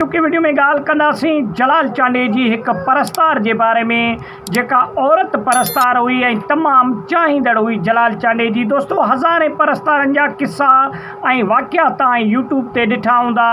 ٽڪي وڊيو ۾ ڳالهه ڪنداسين جلال چانڊيي جي هڪ پرستار جي باري ۾ جيڪا عورت پرستار هئي ۽ تمام چاهيندڙ هئي جلال چانڊيي جي دوستو هزارين پرستارن جا قصا ۽ واقعا تان يوٽيوب تي ڏٺا هوندا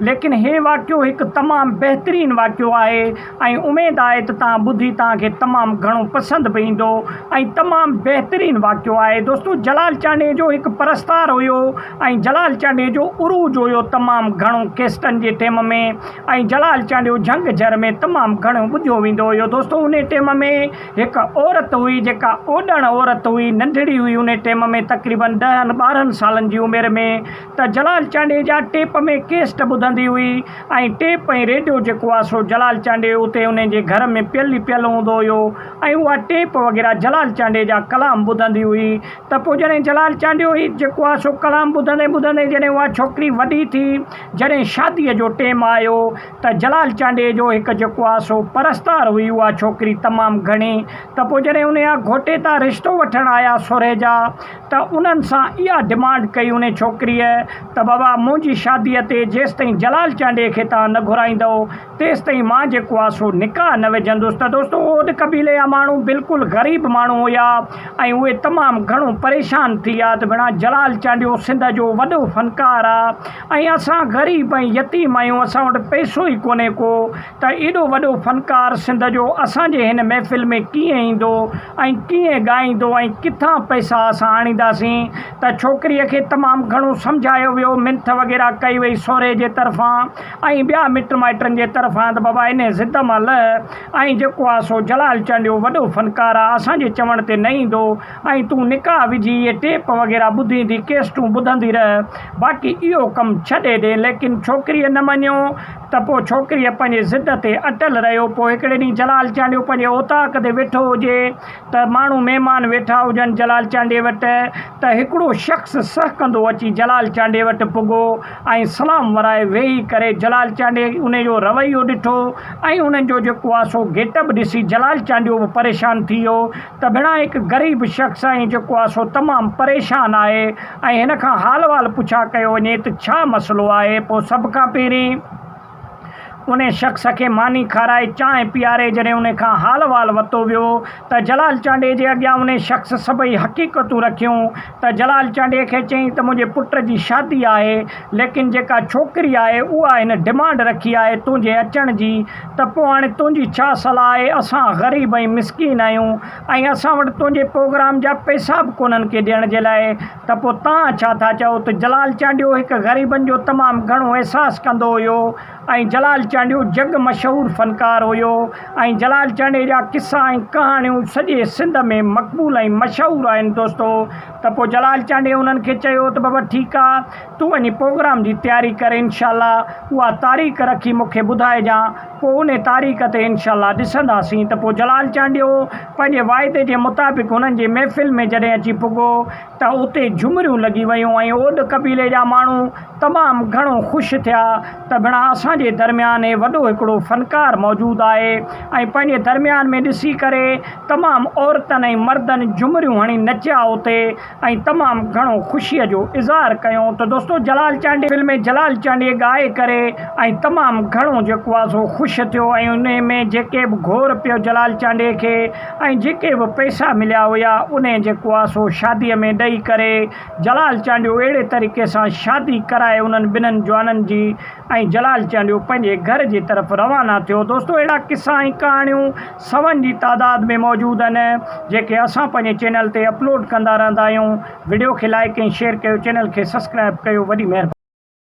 ليڪن هي واقعو هڪ تمام بهترين واقعو آهي ۽ اميد آهي ته تان ٻڌي تان کي تمام گهڻو پسند به ايندو ۽ تمام بهترين واقعو آهي دوستو جلال چانڊيي جو هڪ پرستار هيو ۽ جلال چانڊيي جو عروج هيو تمام گهڻو ڪيسٽن جي ٽيم ۾ ۽ جلال چانڊيو جهنگ جهر ۾ تمام گهڻو ٻڌيو ويندو هيو دوستو انهي ٽيم ۾ هڪ عورت هئي جيڪا اوڏڻ عورت هئي ننڍڙي هئي انهي ٽيم ۾ تقريبن ڏهن ٻارهن سالن جي عمر ۾ ته جلال چانڊيجا ٽيپ ۾ ڪيسٽ ٻڌندي هئي ۽ ٽيپ ۽ ريڊيو جيڪو آهي سو جلال چانڊيو اتي انهن جي گهر ۾ پيل ئي پيل هوندو هيو ۽ اها ٽيپ وغيره جلال چانڊيجا ڪلام ٻڌندي هئي ته پوء جڏهن جلال چانڊيو هي جيڪو آهي سو ڪلام ٻڌندي ٻڌندي جڏهن اها ڇوڪري وڏي ٿي جڏهن شاديء جو ٽيم آيو ته جلال چانڊيجو هڪ جيڪو آهي سو پرستار هئي اها ڇوڪري تمام گهڻي ته پوء جڏهن انهيء گهوٽي تان رشتو وٺڻ آيا سورهيجا ته انهن سان اها ڊمانڊ ڪئي انهي ڇوڪريء ته بابا منهنجي شاديء تي جيستائين جلال چانڊيي کي توهان نه گهرائيندؤ تيستائين مان جيڪو آ سو نڪاح نه وجهندس ته دوستو اوڏ قبيلي جا ماڻهو بلڪل غريب ماڻهو هيا ۽ اهي تمام گهڻو پريشان ٿي ويا ته ڀيڻا جلال چانڊيو سنڌ جو وڏو فنڪار آ ۽ اسان غريب ۽ يتيم آهيون اسان وٽ پئسو ئي ڪونهي ڪو ته ايڏو وڏو فنڪار سنڌ جو اسان جي هن محفل ۾ ڪيئن ايندو ۽ ڪيئن ڳائيندو ۽ ڪٿان پئسا اسان آڻينداسين ته ڇوڪريء کي تمام گهڻو سمجهايو ويو منٿ وغيره ڪئي وئي سورهيه جي طرفان ۽ ٻيا مٽ مائٽن جي طرفان ته بابا انهي ضد مان لهه ۽ جيڪو آ سو جلال چانڊيو وڏو فنڪار آ اسان جي چوڻ تي نه ايندو ۽ تون نڪاح وجهي اهي ٽيپ وغيره ٻڌيندي ڪيسٽون ٻڌندي رهه باقي اهو ڪم ڇڏي ڏي ليڪن ڇوڪريء نه مڃيو ته پوء ڇوڪريء پنهنجي ضد تي اٽل رهيو. پوء هڪڙي ڏينهن جلال چانڊيو پنهنجي اوطاق تي ويٺو هجي ته ماڻهو مهمان ويٺا هجن جلال چانڊيي وٽ ته هڪڙو شخص سهڪندو اچي جلال چانڊيي وٽ پڳو ۽ سلام ورائي ويهي ڪري جلال چانڊيي انهي جو رويو ڏٺو ۽ انهن جو جيڪو آسو گيٽ اپ ڏسي جلال چانڊيو به پريشان ٿي ويو تبڻا هڪ غريب شخص آهين جيڪو آ سو تمام پريشان آهي ۽ هن کان حال وال پڇا ڪيو وڃي ته ڇا مسئلو آهي پوء سڀ کان پهرين ان شخص کي ماني کارائي چانهه پياري جڏهن ان کان حال وال وتو ويو ته جلال چانڊيي جي اڳيان ان شخص سڀئي حقيقتون رکيون ته جلال چانڊيي کي چيائين ته منهنجي پٽ جي شادي آهي، ليڪن جيڪا ڇوڪري آهي اها هن ڊمانڊ رکي آهي تنهنجي اچڻ جي، ته پوء هاڻي تنهنجي ڇا صلاح آهي، اسان غريب ۽ مسڪين آهيون ۽ اسان وٽ تنهنجي پروگرام جا پئسا به ڪونهن ڪي ڏيڻ جي لاء، ته پوء توهان ڇا ٿا چئو؟ ته جلال چانڊيو هڪ غريبن جو تمام گهڻو احساس ڪندو هيو. ۽ جلال چانڊيو جڳ مشهور فنڪار هيو ۽ جلال چانڊيي جا قصا ۽ ڪهاڻيون سڄي سنڌ ۾ مقبول ۽ مشهور آهن دوستو ته پوء جلال چانڊيي انهن کي چيو ته بابا ٺيڪ آ تون وڃي پوگرام جي تياري ڪر انشاء الله اها تاريخ رکي مون کي ٻڌائجان پوء انهي تاريخ تي انشاء الله ڏسنداسين ته پوء جلال چانڊيو پنهنجي واعدي جي مطابق هنن جي محفل ۾ جڏهن اچي پڳو ته اتي جهمريون لڳي ويون ۽ اوڏ قبيلي جا ماڻهو تمام گهڻو خوش ٿيا ته ڀڻا اسان جي درميان هي وڏو هڪڙو فنڪار موجود آهي ۽ پنهنجي درميان ۾ ڏسي ڪري تمام عورتن ۽ مردن جهمريون هڻي نچيا اتي ۽ تمام گهڻو خوشي جو اظهار ڪيو ته دوستو جلال چانڊيو دل ۾ جلال چانڊيو ڳائي ڪري ۽ تمام گهڻو جيڪو آهي سو خوش ٿيو ۽ انهي ۾ جيڪي به گهور پيو جلال چانڊيو کي ۽ جيڪي به پئسا مليا هيا انهي جي ڪواسو شادي ۾ ڏئي ڪري جلال چانڊيو اهڙي طريقي سان شادي ڪرائي انهن ٻنهن جوانن جي ۽ جلال چانڊيو پنهنجي گهر جي طرف روانا ٿيو دوستو اهڙا قصا ۽ ڪهاڻيون سون جي تعداد ۾ موجود آهن جيڪي اسان پنهنجي چينل تي اپلوڊ ڪندا رهندا آهيون وڊيو کي لائيڪ ۽ شيئر ڪيو چينل کي سبسڪرائب ڪيو وڏي مهرباني.